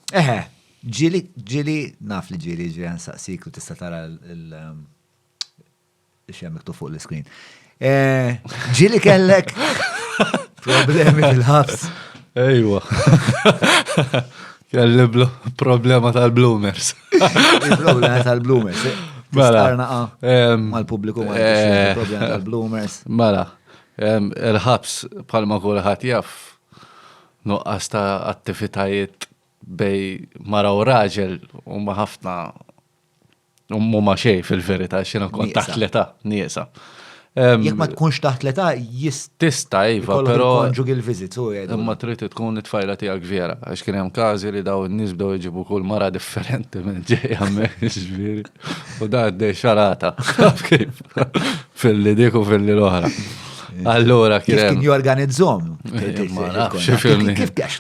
Eħe, ġili, ġili, naf li ġili, ġili għan saqsik u tista tara l-xem miktu fuq l-screen. Eh, ġili kellek problemi fil-ħabs. Ejwa. Kelli problema tal-bloomers. Problema tal-bloomers. Mela. Mal-publiku ma eh, problema tal-bloomers. Mela. Il-ħabs, palma kullħat jaff, Nuqqas ta' attivitajiet bejn mara u raġel huma ħafna huma xejn fil-verità x'inha kont taħt l-età nieqsa. Jekk ma tkunx taħt l-età jista' tista' iva, però conjugal visits u għedu. Imma trid tkun it-tfajla tiegħek vera, għax kien hemm każi li dawn in-nies bdew iġibu kull mara differenti minn ġejja hemmhekk, jiġifieri. U da għaddej xarata. Kif? Filli diku filli l-oħra. Allora, kif kien jorganizzom? Kif kif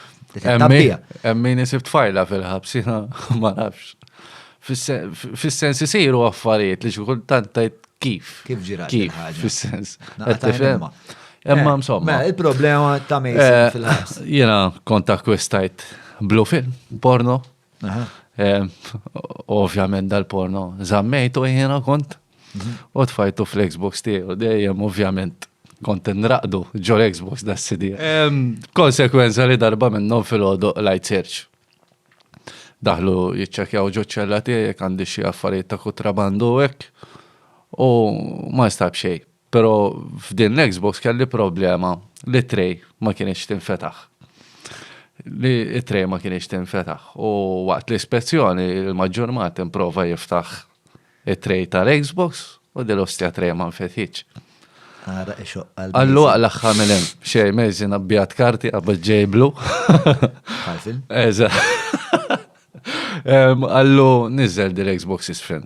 Emmin isib tfajla fil-ħabsina, ma nafx. Fis-sens isiru affarijiet li xukul tantajt kif. Kif ġirat. Kif, fis-sens. Emma eh, msomma. Mela, il-problema ta' Mason eh, fil-ħabs. Jena konta kwestajt blue film, porno, Eh, ovvjament dal-porno zammejtu jiena kont mhm. u tfajtu fl-Xbox tiegħu dejjem ovvjament kont nraqdu ġol Xbox da CD. Konsekwenza li darba minnhom fil-ħodu light search. Daħlu jiċċekjaw ġoċċella tiegħek għandi xi affarijiet ta' kutrabandu hekk u ma stab xejn. Però f'din l-Xbox kelli problema li t-tray ma kienx tinfetaħ. Li t-tray ma kienx tinfetaħ. U waqt l-ispezzjoni l-maġġur mat improva jiftaħ it-tray tal-Xbox u dil ostja tray ma nfetħitx. Ara ixoq għal. Għallu għal axħa mill-em. Xej, meżin għabbijat karti għabba ġejblu. Għalfil? Eża. Għallu nizzel dil-Xbox isfin.